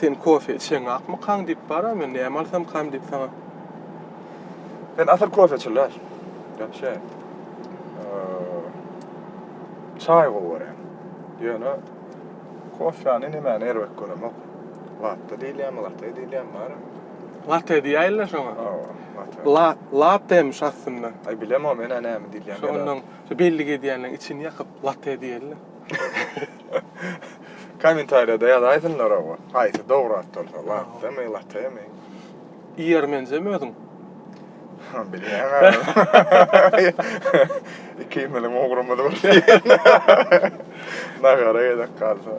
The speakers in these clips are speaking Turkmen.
Sen kofe içeňakmykaň diýip baram, men näme alsamkam diýip saňa. Men asyl kofe içen däl. Gepşe. Çaý gowy görýän. Ýöne Kofäni nemäni erbet göremok. Latte diýilýärmi, latte diýilýärmi barybir. Latte diýäýinler şoňa. Hawa, latte. La, lattemiş aslynda. Aý bilemok men-ä näme diýilýän. Şo onnoň şo bellik edýänleň içini ýakyp latte diýeli. Kommentariýada ýazaýsynlar oba. Haýsy dogry at bolsa, lattemy, lattemy. Iýer menjem özüň. Bilýän gaby. Ikimiziň ugrumyz bir diýen. Nahara gezek galsa.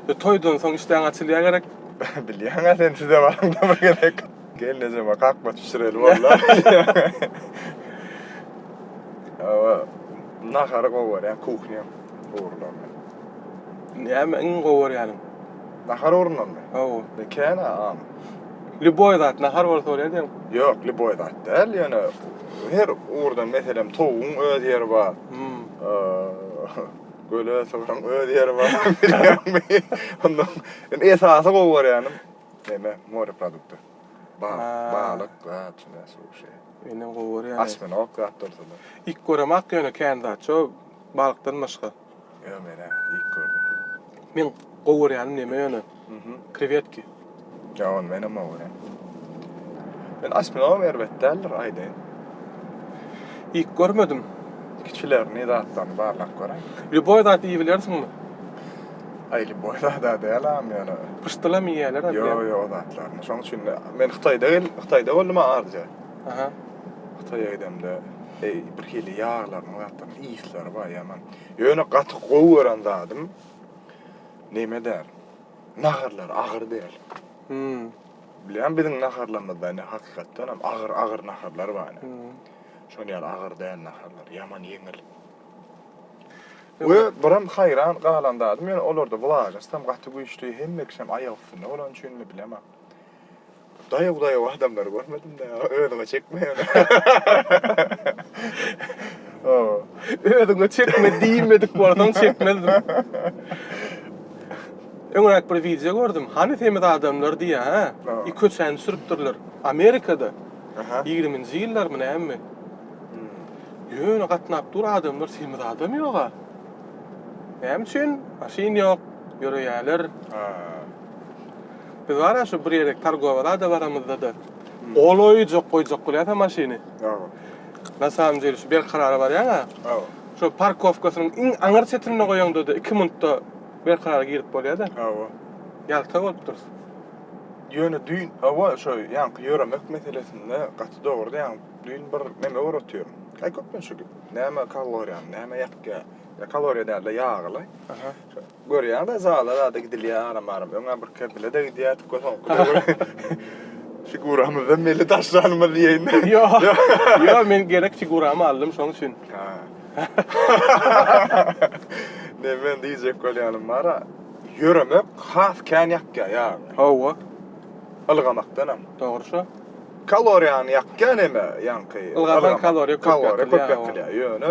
E, toýdan soň işdäň açylýar gerek. Bilýän-ä sen size baramda bir gezek. Gelnejeme kakma bişireli bollar. Hawa, nahary gowy görýän, kuhnyýam ugurlaryny. Näme iň gowy görýäniň? Nahar ornundanmy? Hawa. E, kän-ä aň. Lýuboý zat, nahar bolsa bolýar diýen. Ýok, lýuboý zat däl, ýöne her ugurdan, meselem, towugyň öz ýeri bar. Hmm. Eee, göle sygyryň öz ýeri bar. Bilýärmi? Ondan, indi esasy gowy görýänim, neme, moreprodukty. Bal, Ha. balyk, zat, şu näme, suşi. Inem gowy görýän. Asminok zat bolsa-da. Iýip göremok ýöne kän zat, şo balykdan başga. Ýa men hä ilk gördüm. Men gowy görýänim neme ýöne? Krewetki. Ýa ony menem gowy görýän. Men asminogam erbet däldir aýdaýyn. Ilk görmedim. Kiçilerini zatlaryny barlap göräý. Lýuboý zat iýip bilersiňmi? Aý lýuboý zada dälam ýöne. Pyşdylam iýýälerem ýa. Ýo ýo o zatlaryny. Şoň üçin men Hytaýda gel Hytaýda boldum a arja. Aha. Hytaýa gidemde eý bir hili ýaglarynyň zatlarynyň ysleri bar ýaman. Ýöne gaty gowy gören zadym neme däl. Naharlary agyr däl. Hum. Bilýän biziň naharlarymyzda ine hakykatdan hem agyr agyr naharlar bar ine. Şol ýaly agyr däl naharlar ýaman ýeňil. We biram haýran galan zadym ýöne olarda wlažnost hem gaty güýçli hemme kişi hem aýak üstünde bolany üçinmi bilemok. Daýaw daýaw adamlary görmedimde özüňe çekme ýöne. Ow. Özüňe çekme diýmedik bolsaň çekmezdim. Öňräk bir wideo gördüm. Hany semiz adamlar diýýä hä? Ow. Köçäni sürüpdirler. Amerikada. Aha. Ýigriminji ýyllarmy näme? Ýöne gatnap dur adamlar semiz adam ýoga. Näme üçin? Maşyn ýok, ýöreýäler. Haa. Biz wara şu bir ýere targowa rada baramyzda-da golaýjak goýjak bolýas-a maşyny. Hawa. Na samym dile şu Berkarara barýaň-a. Hawa. Şo parkowkasynyň iň aňyr çetinde goýaňda-da iki minutda Berkarara girip bolýa-da. Hawa. Ýalta bolup durus. Ýöne düýn, hawa, şo ýaňky ýöremek meselesinde gaty dogry diýýäň. Düýn bir neme ugratýaryn. Aý köplenç şu näme kaloriýany, näme ýakýa. Ýa kaloriýa däl-de ýagy-laý. Aha. Görýäňdä zala zada gidilýär aram aram. Öňä bir kerdilede gidýärdik we soňky figuramyzdan belli daşlanymyz diýeýin. Ýok. Ýok men gerek figuramy aldym şoň üçin. Ha. Ne men diýjek bolýanym bara ýöremek has kän ýakýar ýagyny. Hawa. Ylgamakdanam. Dogry şo. Kaloriýany ýakýar näme ýaňky. Ylgasaň kaloriýa köp ýakylýar. Ýöne.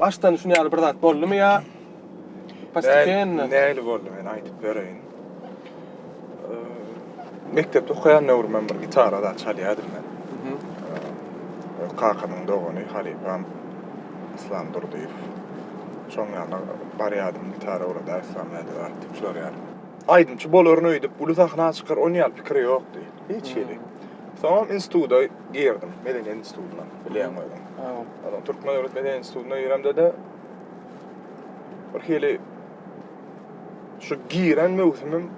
Başdan şun ýaly bir zat boldumy ýa postepenno? Nähili boldy men aýdyp bereýin. Mekdepde okaýan döwrümem bir gitara zat çalýardym men. Öz kakamyň dogany halypam Yslam Durdyýew. Şoň ýanyna barýardym, gitara ugradar Yslam näde bar diýip sorýardym. Aýdymçy bolaryn öýdüp, uly sahna çykar onýaly pikir ýokdy. Hiç hili. Soňam instituda girdim medeniýet institutyna bilýän özüň. Adam Türkmen döwlet medeniýet institutyna giremde de bir hili şu giren möwsümim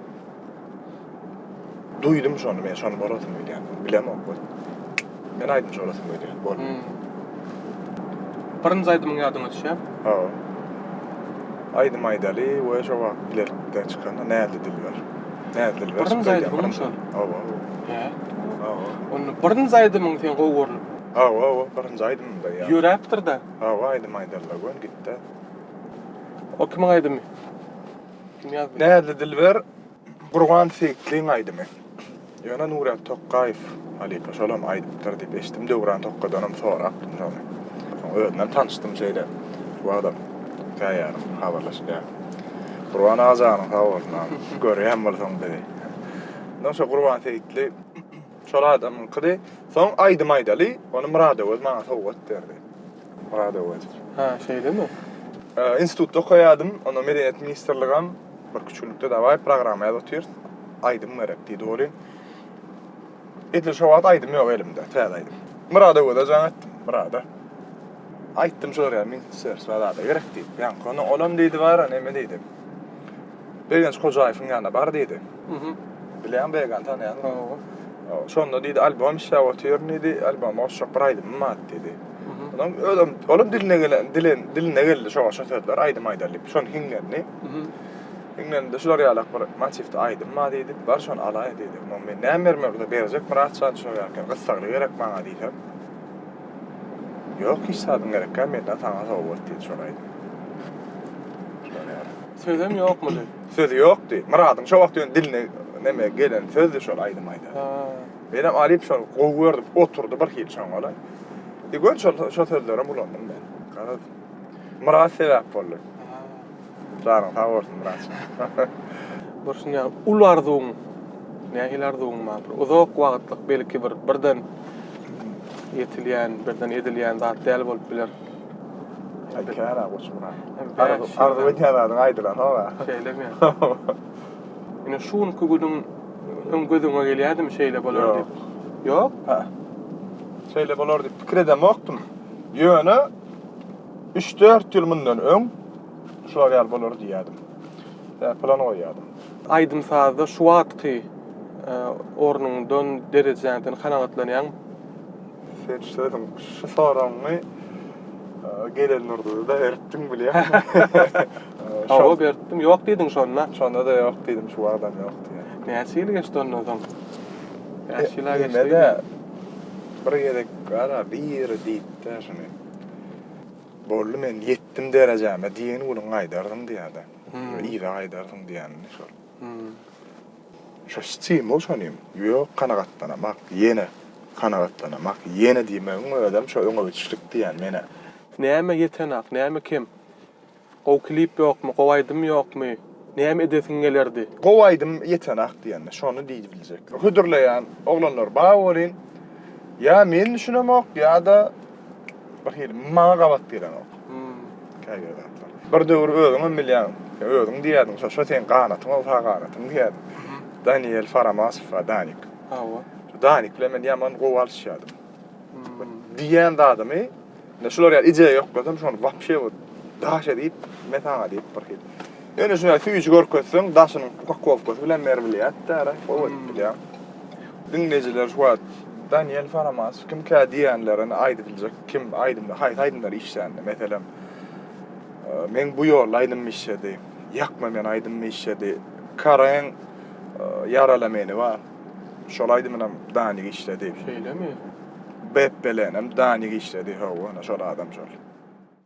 duýdum şony, men şony bolasym gelýär. Bilemok bu. Men aýdymçy bolasym gelýär. Bol. Hmm. Birinji aýdymyň ýadyňa düşýär? Ha. Aýdym aýdaly we şo wagt bilelikde çykan Näzli dilber. Täzdir ber. Birin zaýdy munyň şol. Hawa. He. Hawa. Onda birin zaýdy munyň sen gowy görlüp. Hawa, hawa, birin zaýdy munda ýa. Ýöräpdir da. Hawa, aýdym aýdarlar gön gitde. O kimiň aýdymy? Kim ýazdy? Näzli Dilber, Gurban Seýitliň aýdymy. Ýöne Nuryýaz Tokgaýew halypa şolam aýdypdyr diýip eşitdim, Döwran Tokgadanam sorapdym şony. Soň özünem tanyşdym şeýle wagtam käýarym habarlaşylýar. Gurban aga janyň sag bolsun, görýän bolsaň bizi. Ondan şo Gurban Seýitli şol adamyňkydy. Soň aýdym aýdaly, ony Myradöwez maňa sowgat berdi. Radować. Ha, şeýlemi? Institutda okaýardym, onda Medeniýet ministrligem bir küçgülikde dawaý programma ýazyp otyrys, aýdym gerek diýdi welin, edil şo wagt aýdym ýok elimde, täze aýdym. Myradowaza jaň etdim, Myrada aýtdym şol ýaly ministrligä zada gerek diýip, ýaňky günüň olam diýdi bara, neme diýdi. Begenç Hojaýewiň ýanyna bar diýdi. Bilýän Began tanýan. Şonda diýdi albom işläp otyryn diýdi. Alboma goşjak bir aýdymym bar diýdi. Onam özem olam diline gelen dilen diline geldi şo goşa sözler aýdym aýdaly diýip. Şony hiňlendi. Hiňlendi şular ýalak bir motiwde aýdym bar diýdi. Bar şony alaý diýdi. Onam men näme bermeli berjek Myratjan şo ýerken gyssagly gerek maňa diýsem. Ýok hiç zadyň gerek ýa menden saňa sowgat diýdi şony aýdym. Sözem ýokmudy? Sözi ýokdy. Myradyň şo wagt ýöne diline neme gelen sözdü şol aýdym aýdan. Ha. Menem alyp şol gowy gördüm. Oturdy bir hil şoňala. Di gör şol şo sözlerem ulandym men. Garaz. Myrat sebäp boldy. Ha. Janyň sag bolsun Myrat. Bolsun ýa uly arzuwyň. Nähili arzuwyň bar? Bir uzak wagtlyk belki bir birden ýetilýän, birden edilýän zat däl bolup biler. Aýdylýar-a Goçmyrat. Arzuw edýän zadyň aýdylanok-a. Şeýlemi? Ine şu günki günüň öň göz öňe gelýädimi şeýle bolar diýip? Ýok. Ýok? Hä. Şeýle bolar diýip pikir edemokdym. Ýöne üç-dört ýyl mundan öň şular ýaly bolar diýýärdim. Däp plan goýýardym. Aýdym-sazda şu wagtky ornuňdan, derejäňden kanagatlanýaňmy? Sen şu özüň şu soragyňy gelen nurda da beripdiň bilýän. Şoňa beripdim, ýok diýdiň şonda. Şonda da ýok diýdim, şu wagtam ýok diýdim. Näçe ýyl geçdi ondan soň? Bäş ýyla geçdi. Bir gezek gara biri diýipdi şuny. Boldy men ýetdim derejäme diýen günüň gaýdardyň diýýärdi. Yza gaýdardyň diýýänini şol. Şo stimul şonym. Ýok, kanagatlanamak, ýene kanagatlanamak, ýene diýmegiň özem şo öňe ötüşlik diýýän menä. Näme ýetenak, näme kem? Gowy klip ýokmy, gowy aýdym ýokmy, näme edesiň gelerdi? Gowy aýdym ýetenak diýende, şony diýdibiljek. Hödürleýän oglanlar bar bolyn. Ýa men düşünemok, ýa-da. Bir hili maňa gabat gelenok. Käbir zatlar. Bir döwür özüňem bilýäň, özüň diýýärdiň, şo şo seň ganatyň ol sag ganatyň diýýärdiň. Daniel Faramasow bar, Danik. Hawa. Danik bilen men ýaman gowy alyşýardym. Diýen zadymy, indi şular ýaly ije ýoklasam, şony wapşe bu daş edip, men saňa diýip bir hili. Ýöne şuny süýji görkezseň, daşynyň upakowkasy bilen beri bilýärdi-dä, gowy edip bilýär. Diňleýjiler şu wagt Daniel Faramaç kimkä diýenlerini aýdyp biljek. Kim aýdymda haýsy aýdymlar işlänini meselem Meň bu ýolda aýdymym işledi. Ýakma meni aýdymym işledi. Kareň Ýarala meni bar. Şol aýdymynam Danik işledi. Şeýlemi? Bepbelenem Danik işledi. Hawa, şol adam şol.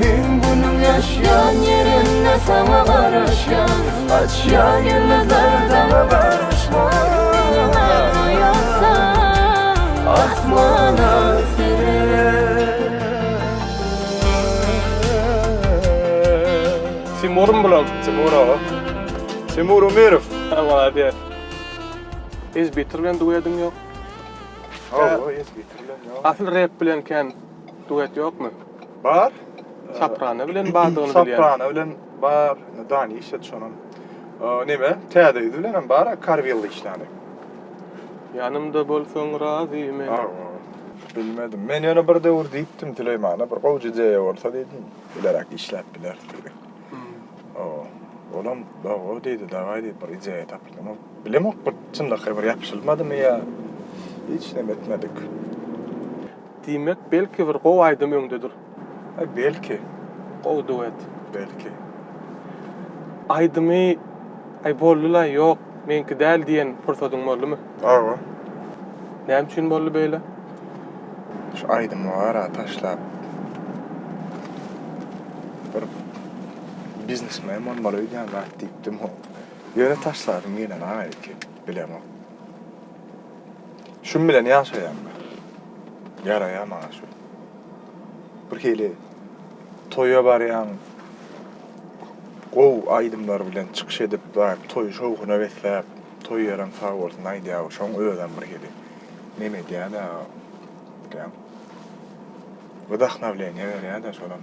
Meň günüm ýaşýan ýerimde saňa garaşýan Açýan ýyldyzlar daňa bagyşlan Asmana Timur Mblog, Timur aga. Timur Umirov. Maladýas. Ezbitr bilen duediň ýok. Asyl rep bilen kän. Duet ýokmy? Bar. Soprano bilen bardygyny bilýän. Soprano bilen bar. Dani işlet şonam. Neme? Täze ýüz bilenem bar, Karwilli işlani. Ýanymda bolsaň razy men. Bilmedim. Men ýöne bir döwür diýipdim Süleýmana, bir gowy ideýa bolsa diýdim, bileräk işläp bileris diýdi. Hawa. Olam dawa diýdi, dawai diýip bir ideýa tapyldym. Bilemok bir çynlakaý bir ýapyşylmadymy ýa hiç näme etmedik. Diýmek belki bir gowy aýdym öňdedir. Belki. Gowy duet. Belki. Aýdymy Aý boldylaý ýok meňki däl diýen pursadyň boldumy? Owo. Näme üçin boldy beýle? Şu aýdymy bara taşlap bir biznesmen bolmaly öýdýän zat diýipdim. Ýöne taşladym gelen aýyky bilemok. Şum bilen ýaşaýan bar. Ýaraýar maňa şu. Birhili toýa barýaň, gowy aýdymlar bilen çykyş edip, daýyp toýy şowhuna besläp, toý ýerem sag bolsun aýdýaw, şoň özem birhili nem edýä-dä, bilýäň, wdahnawleniýe berýä-dä şolam.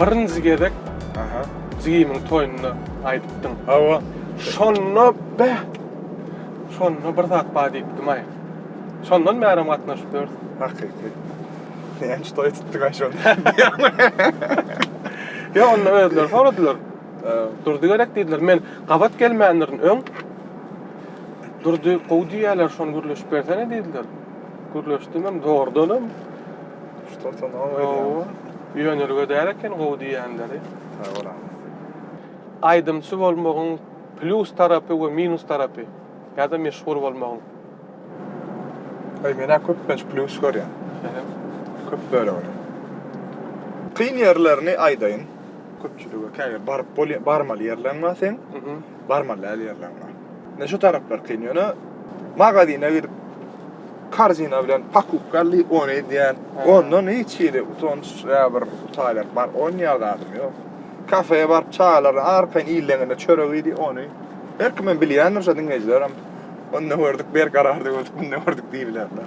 Birinji gezek jigimiň toýunda aýdypdyň. Hawa. Şonda beh. Şonda bir zat bar diýipdim-aý. Şondan bärem gatnaşyp ýörüs. Hakyky. Näme toý tutdyň-aý şonda? Ýok, onda özleri soradylar. Durdy gerek diýdiler. Men gabat gelmändirin öň. Durdy gowy diýýärler, şony gürleşip bersene diýdiler. Gürleşdim hem, dogrudanam. Tutan o Gowy. Ýönerge däl eken gowy diýýänleri. Sag bol aga. Aýdymçy bolmagyň plýus tarapy we minus tarapy ýa-da meşhur bolmagyň? Aý men-ä köplenç plýus görýän. Men hem. Köp bölegini. Kyn ýerlerini aýdaýyn. Köpçülige käbir baryp bolýan, barmaly ýerleriň bar seň. Barmaly däl ýerleriň bar. Ine şu taraplar kyn. Ýöne magazine gidip karzina bilen pakupka li ony edýän. Ondan hiç hili utanç ýa bir utalýan bar onýa zadym ýok. Kafeýe baryp çaýlaryny arkaýyn iýleňinde çörek iýdi ony. Her kimem bilýändir şu diňleýjilerem onda gördük berkararda gördük munda gördük diýibilerler.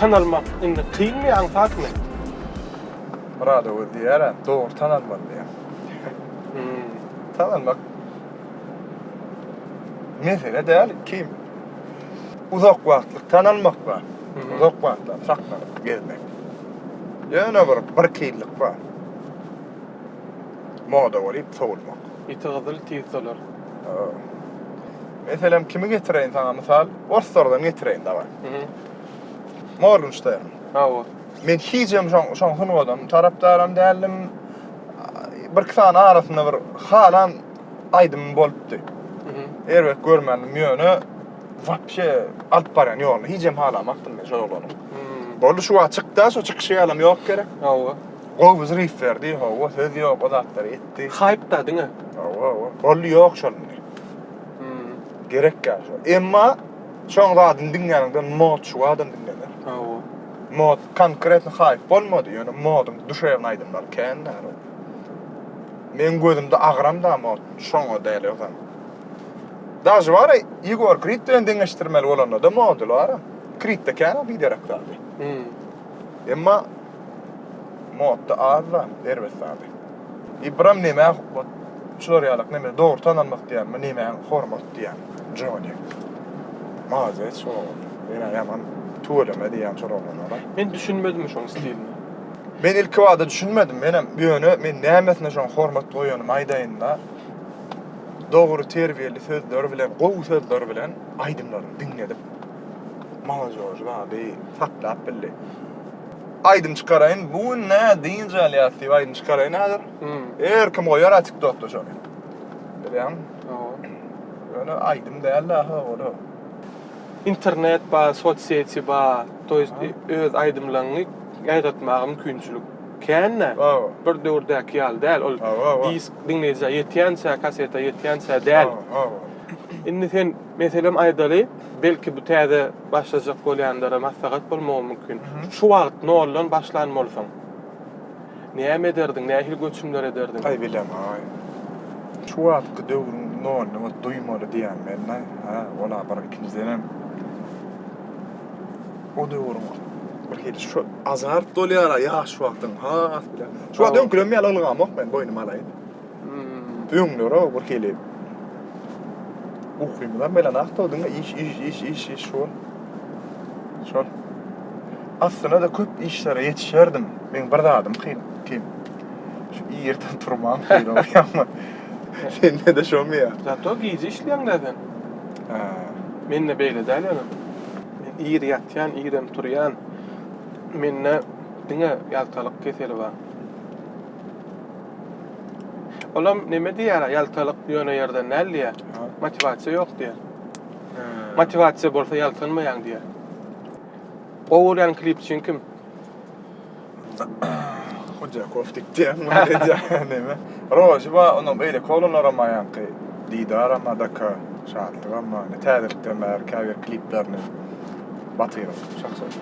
Tanalmak indi kynmy aňsatmy? Murad Öwez diýýärä, dogry tanalmaly diýýär. Hümm. Tanalmak mesele däl, kim uzak wagtlyk tanalmak bar. Uzak wagtlap saklanyp gezmek. Ýöne bir birki ýyllyk bar. Moda bolýup sowulmak. Ýiti gyzyl tiz solar. Meselem kimi getireýin saňa mysal, orslardan getireýin daway. Morgenstern. Hawa. Men hijem şoň şoň sungadan tarapdaram däldim. Bir sany arasynda bir halan aýdym bolupdy. Erbet görmändim ýöne wapşe alyp barýan ýoluny hijem halamakdym men şol oglany. Boldy şu wagt çykda şu çykyşy ýalam ýok gerek. Hawa. Gowy zryw berdi, hawa söz ýok o zatlary etdi. Haýpda diňe. Hawa, hawa. Boldy ýok şol indi. Gerek ýaly şol. Emma Şoň zadyny diňläniňde mod şu adam diňlener. Hawa. Mod konkretno haýp bolmady, ýöne modyň duşewn aýdymlary kän däl. Meň gözümde agram da mod şoňa däl ýozan. Dažy bar, Igor Krit bilen deňeşdirmeli bolanda da mody bar. Kritde kän o biderek zady. Emma Modda azda erbet zady. Ibram nemä hukmat şular ýalak neme dogry tanalmak diýämi nemä hormat diýäň Jony. Malades oglum. Ýene ýaman tüweleme diýýän şol oglanlara. Men düşünmedim şoň stiline. Men ilki bada düşünmedim menem ýöne men nämesine şoň hormat goýanymy aýdaýynda dogry terbiýeli sözler bilen gowy sözler bilen aýdymlaryny diňledip Molojož zady saklap bildi. Aýdym çykaraýyn, bu gün nä dynç alýas diýip aýdym çykaraýyn häzir. Her kim goýar a TikTokda şony. Bilýäňmi? Ýöne aýdym däl daha ora. Internet bar, sosýeti bar, to ýest öz aýdymlaryňy ýaýratmaga mümkinçilik kän-de. Bir döwürdäki ýaly däl. Ol disk diňleýjä ýetýänçä, kaseta ýetýänçä däl. Indi sen Meselem aýdaly, belki bu täze başlajak bolýanlara maslahat bolmagy mümkin. Şu wagt noldan başlan bolsaň, näme ederdiň, nähili göçümler ederdiň? Aý bilemok-aý. Şu wagtky döwrüň noluny ot duýmaly diýýän men-de. Hä, ol-a bir, ikinjidenem, o döwrüň birhili şu azart bolýar-a ýaş wagtyň has bile. Şu wagt öňkülerim ýaly ylgamok men, boýnuma alaýyn. Öňler-ow bir hili ukymyzam gelenokdy-ow, diňe iş, iş, iş, iş, iş şol. Şol. Aslynda-da köp işlere ýetişerdim. Meň bir zadym kyn, kyn. Şu irden turmam kyn-ow, ýa-da sende-de şomy ýa? Zato gije işleýäň-dä sen. Hä. Mende beýle däl ýöne. Men ir ýatýan, irem turýan. Mende diňe ýaltalyk keseli bar. Olam neme diýýär, ýaltalyk ýöne ýerden däl diýýär. Motiwasiýa ýok diýýär. Motiwasiýa bolsa ýaltanmaýaň diýýär. Gowy görýän klipçiň kim? Hojakow diýýän bolýar neme. Rozy bar, onuň beýleki oglanlaram bar ýaňky. Didaram bar, Daka, Şatlygam bar. Indi täzelikden bäri käbir kliplerini batyryň.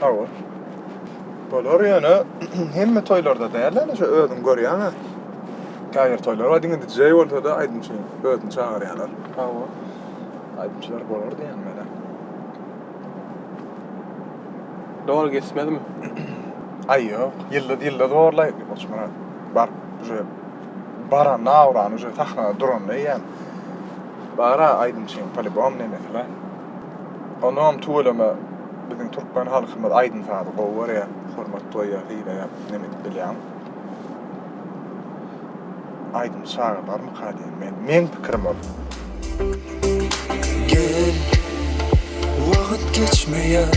Hawa. Bolar ýöne hemme toýlarda däl ýöne şu özüň görýäňä. Käbir toýlar bar diňe DJ bolsa-da aýdymçy özüni çagyrýarlar. Hawa. Aýdymçylar bolar diýýän menä. Dogry geçmezmi? Aý ýok. Ýyldyz ýyldyz borlaý Goçmyrat. Bar. Uje baranda awrany uje sahnada duranda eýýäm. Bar-a aýdymçyň polibom nemesi bar. Onam tüweleme biziň türkmen halkymyz aýdym-sazy gowy görýär, hormat goýýar, sylaýar, men edip bilýän. Aýdymçy çaga barmyka diýen men, meň pikirim ol. Gel, wagyt geçmeýär,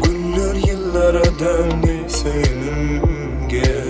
günler ýyllara döndi, söýenim gel.